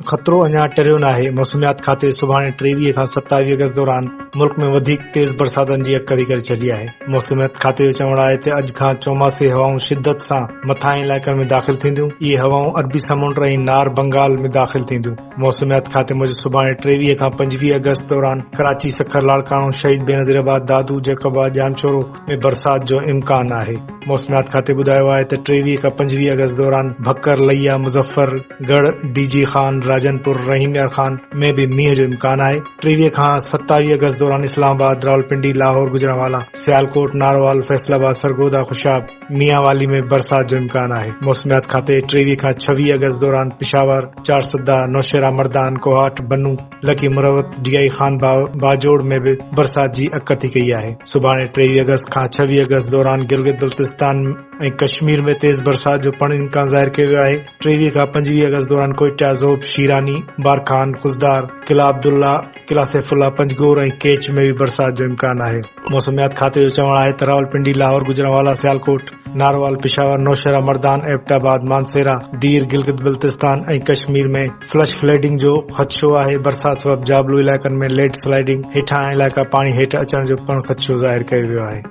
خطرو اڃا ٽريو ناهي موسميات کاتي سڀاڻي ٽيويهه کان ستاويهه اگست دوران ملڪ ۾ وڌيڪ تيز برساتن جي اڪري ڪري ڇڏي آهي موسميات کاتي جو چوڻ آهي ته اڄ کان چوماسي هوائون شدت سان مٿانهين علائقن ۾ داخل ٿينديون اهي هوائون عربي سمنڊ ۽ نار بنگال ۾ داخل ٿينديون موسميات کاتي موجب سڀاڻي ٽيويهه کان پنجويهه آگسٽ دوران ڪراچي، سکر، لاڙڪاڻو، شهيد بينظير آباد، دادو، جيڪب آباد، ڄامشورو ۾ برسات جو امڪان آهي. موسميات کاتي ٻڌايو آهي ته ٽيويهه کان پنجويهه آگسٽ دوران ڀڪر، لئيا، مظفر ڳڙهه، ڊي جي خان، راجن پور، رحيم يار خان ۾ به مينهن جو امڪان آهي. ٽيويهه کان ستاويهه آگسٽ دوران اسلام آباد، راولپنڊي، لاهور، گجرانوالا، سيالڪوٽ، نارووال، فيصل آباد، سرگوڌا، خوشاب، ميانوالي ۾ برسات جو امڪان آهي، موسميات کاتي ٽيويهه کان ڇويهه آگسٽ دوران پشاور، چارسده، نوشهرا مردان، ڪوهاٽ، بنو، لڪي مروت، ڊي آء خان باغ، باجوڙ ۾ به برسات جي اڪ اٿي ڪئي آهي. سڀاڻي ٽيويهه آگسٽ کان ڇويهه آگسٽ دوران گلگت بلتستان ۽ ڪشمير ۾ تيز برسات جو پڻ امڪان ظاهر ڪيو ويو آهي. ٽيويهه کان پنجويهه آگسٽ دوران ڪوئيٽا، زوب، شيراني، بارکان، خضدار، قلعه عبدالله، قلعه سيف الله، پنجگور ۽ ڪيچ ۾ به برسات جو امڪان آهي. موسميات کاتي جو چوڻ آهي ته Rawalpindi, Lahore, Gujranwala, Sialkot, Narowal, Peshawar, Nowshera, Mardan, Abbottabad, Mansehra, Dir, Gilgit Baltistan ۽ Kashmir ۾ flash flooding جو خدشو آهي، برسات سبب جابلو علائقن ۾ ليڊ سلائيڊنگ، هيٺاهان علائقا پاڻي هيٺ اچڻ جو پڻ خدشو ظاهر ڪيو ويو آهي.